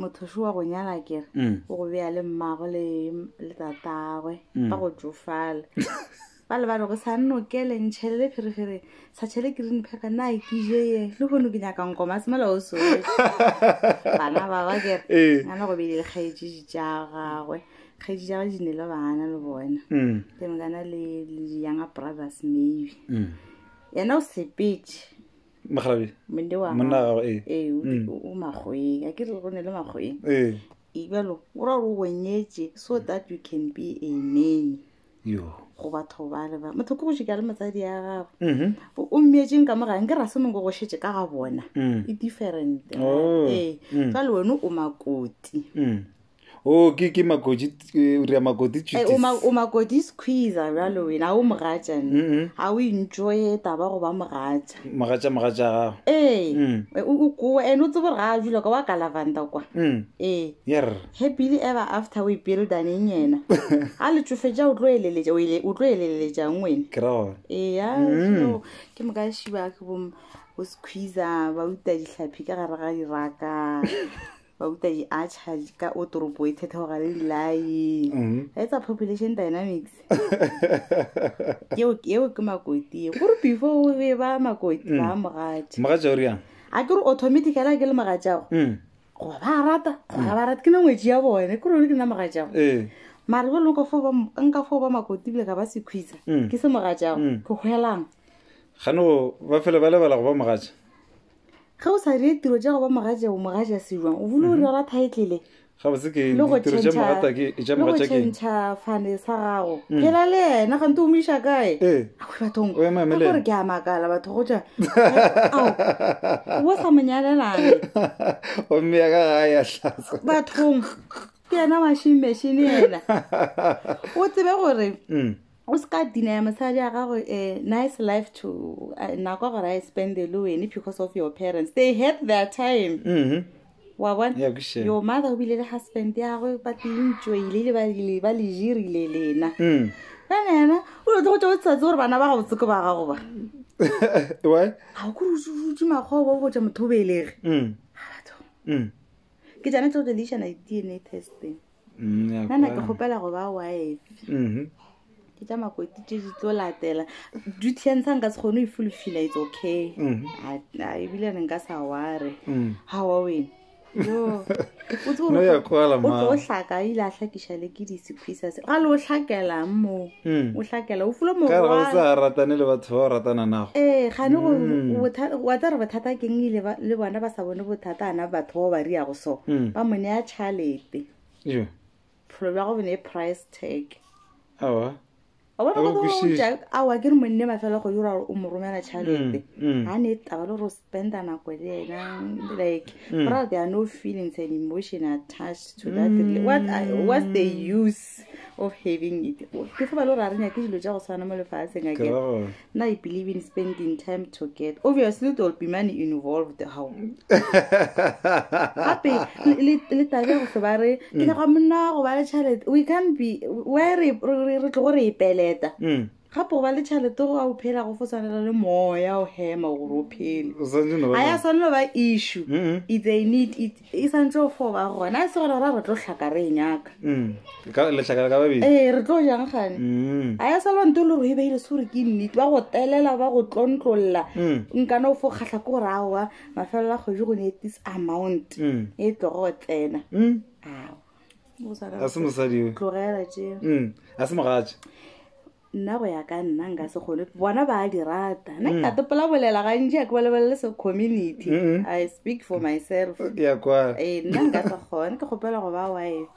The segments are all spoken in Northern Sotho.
mothoši wa go nyala kere mm. o go beya le mmago le le tatagwe mm. ba go tsofala ba le ba re go sa nnokele ntšhele le pherefere sa tšhele ke rene phepa na ke je ye le gone ke nyaka nkoma semela o so bana ba ba kere eh. ngana go bele lekgaetsedi tša gagwe kgaedi tša gage di ne le bana le bona mm. ke mekana le younger brothers maybe yena o sepetse mokgalabje mone wa monna gago ee ee o di- o o makgoeng a ke re go ne le makgoeng ee ibalo o ra gore o bonyetše so that you can be a nanny yo go batho ba le ba motho ke go šika le motsadi ya gago Mhm. o o mmeetseng ka mo gang ke ra se mongwe go šetse ka ga bona Mm. e different Oh. ee Mm. jale wena o makoti Mm. o ke ke makoti eh, o dira makoti Eh, o tšutis ma- o makoti squeezer bjalo wena ga o mogatša nne ga o intšoye taba go ba mogatša mogatša mogatša gago ee Mm. eh, o o koa and o tsebo ga a dula kwa wa ka lavanda kwa Mm. ee yer happily ever after we buildaneng yena a le tšofetša o tlo eleletša o ele- o tlo eleleletšang wena ke ra gona eya so ke moka šiba ke bom bo squeezer ba uta ditlhaphi ka gare ga diraka bauta di archer ka o toropo e thetha gore le dilaeng mm-hmm. ga etsa population dynamics eo ke makoti e gore before o be ba makoti mm. ba mogatša mogatša o riang a ke re automaticala ke le mogatšago mm. goba ba rata goba mm. ba rata ke na ngwetši ya bone ke rone ke nna mogatšago eh. mare ba lone nka foo ba makoti bile ka ba sekhwisa ke se mogatšago ke hwelang gano ba fele ba lebala go ba mogatša ge o sa dire tiro ja go ba mogaja o mogaja sejwang o bolo o mhm. rera titlele le go tšhentšha fane sa gago mm. phela le ena gante o mo iša kae eh. ae bathong gore ke a makala batho go ja bo sa monyalelane ommeya ka gae ya tlasa bathong ke ena washing machine ena o tsebe gore mm. o se ka dinaya mosadi ya gago a nice life to uh, nako gore a spende le wene because of your parents they had their time Mhm. wa bona Yeah, ke sure. your mother o bile le husband yagwe ba tlentšoile le ba- le- ba le jirile lena Mm. fana yena o lo tlogo tša o tsatse gore bana ba gabotseke ba gago ba Why? ga o kore utse makgobo o botša motho o belege Mm. Mm. ke jane tlo relation a di-dna testing nana ke kgopela go ba wife mm-hmm. ke tša makoti tše di tlo latela duty ya ntsha nka se kgone o e fulfila it's okay mm-hmm. ebile ne nka sa ware mm. ga wa wena o tlo hlaka ile a hlakiša le ke disephisa se ga le o hlakelang moo o hlakela o fulo moratane le batho ba o ratana nago ee gane wa tsa re bothata keng ile le bona ba sa bone bothata ana batho bao ba riago so ba mo ne ya tšhalete pholo bja go bone e price tag awa awa ke re monne mafela go dira gore o mo romela tšhalete ga ne taba le gore benda nako le yena like mm. bro there are no feelings and emotion attached to that mm. what I, what's the use of having it ke fa ba lo ra re nyake dilo tša go tshwana mo lefatsheng again na i believe in spending time to get obviously there will be money involved how gape le tabe go hle ba re ke mm. nyaka monna go ba le tšhelete we can't be where re tlogo re e peleta mm. gape o ba le tšhalete go a o phela go fo tshwanela le moya o hema gore o phele O santse no ba ga ya tshwanelo ba issue Mm-mm. if they need it e santse o fo ba gona a se gore ra re tlo tlhaka re e nyaka Mm. Ka- letlhakala ka babedi ee re tlo jang gane Mm. a ya salwa nto le gore e beile se gore ke nnete ba go telela ba go tlontlolola Mm. nkana o fo kgatlha ko gore aowa mafelelo a kgwedi go ne this amount Mm. e tlogo go tsena Mm. ao a se mosadi yo tlogela tše Mm, a se mogatša nna go ya ka nna nka se kgone bona ba a di rata nna ke ka topola bolela gantši a ke bolebelele se community Mm-mm. i speak for myself ke ya kwa ee nna nka se kgone ke kgopela go ba wife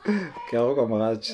ke ya go kwa mogatša